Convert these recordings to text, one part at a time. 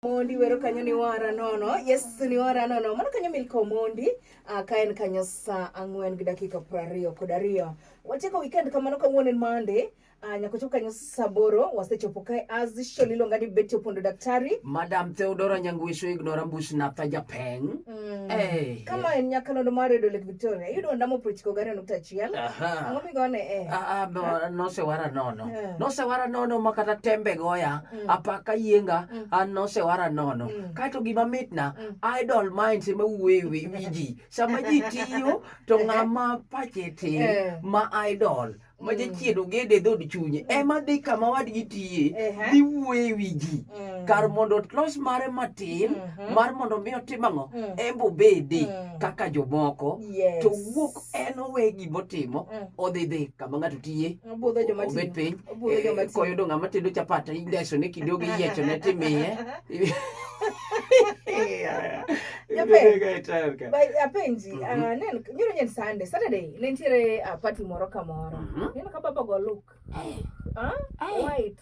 Mondi wero kanyo ni wara nono yes ni wara nono mano kanyo milko mondi uh, ka en kanyo saa ang'wen gi dakika piero ariyo kod ariyo wachako weekend kamano kawuono en Monday uh, ah, nyako chopo kanyo saa aboro wasechopo kae as usual iluonga ni Betty Opondo daktari Madam Theodora Nyangwisho Ignora Mbush Natha Japeng mm. hey. Eh. kama en nyakalondo mar Radio Lake Victoria yudo ondamo prochiko gari nukta achiel ang'o migone eh. uh, uh, no, nosewara nono yeah. nosewara nono makata tembe goya mm. apaka yienga mm. an nosewara nono mm. kaeto gima mitna mm. idol minds ema wuoye wi ji sama ji tiyo to eh. ng'ama pache tin eh. ma idol ma mm. jachien ogede e dhod chunye mm. ema dhi kama wadgi tiye dhi wuoye e wi ji mm. kar mondo otlos mare matin mm-hmm. mar mondo mi otim ang'o embo bede kaka jomoko to wuok en owe gima otimo mm. odhi dhi kama ng'ato tiye obet piny eh, koyudo ng'ama tedo chapat indeso ne kinde ogi yiecho ne timiye apenji mhm. ah, nyoro nyen sande saturday ne nitiere ah, pati moro kamoro mhm. neno ka baba go look eh. ah, eh. white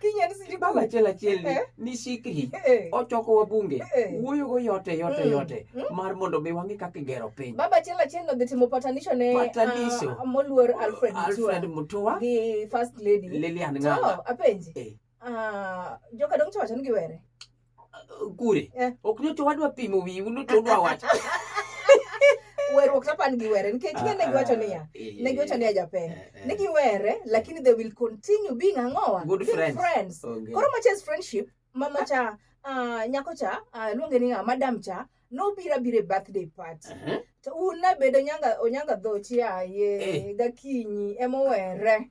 Kinyani siji baba achiel achiel ni Eh. ni sikhi Eh. ochoko wabunge Eh. wuoyogo yote yote Mm. yote Mm. mar mondo mi wang'e kaka igero piny Baba achiel achiel nodhi timo patanisho ne Patanisho. ah, moluor Alfred Alfred Mutua Mutua gi first lady. Lilian To Ng'anga apenji. Eh. Ah, joka dong chowacho ni giwere. kure eh. ok nyoto wadwa pimo wi uno to dwa wacho weruok chapan giwere nikech ah, ne giwacho ah, niya eh, ne giwacho niya japeng eh, eh. ne giwere lakini they will continue being ang'owa good friends, friends. Okay. koro machas friendship mama cha uh, nyako cha uh, luonge ni madam cha nobira bire birthday party uh -huh. to un nabedo nyanga onyanga dhochi aye eh. gakinyi emowere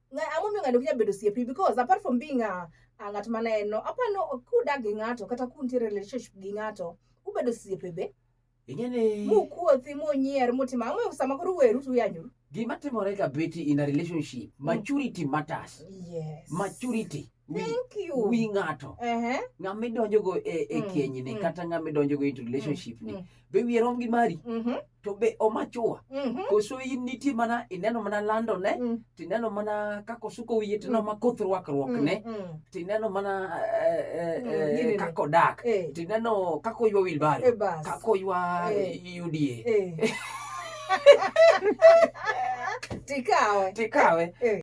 Nga- ang'o miyo ng'ani ok nyal bedo osiepni because apart from being a, a ng'at ma ne en no apa no kudak gi ng'ato kata kuntiere relationship gi ng'ato ubedo osiepe be ing'e ni mukuothi munyier mutima ang'o miyo sama koro uweru to uyanyoru gima timore ka beti in a relationship maturity matters yes maturity wi, Thank you. wi ng'ato Ehe. ng'ama idonjogo e, e Mm, kenyni mm. kata ng'ama idonjogo into relationship ni Mm. be wiye rom gi mari Mhm. to be omachua Mhm. koso in nitie mana ineno mana landone Mm. tineno mana kaka osuko wiye tineno Mm. mana koth rwakruokne Mm. Mm. tineno mana eh, eh, Mm, eh, ginene. kaka odak Eh. tineno kaka oywa wilbaro Eh, bas. kaka oywa Eh. uda Eh. Tikawe. tikawe Eh.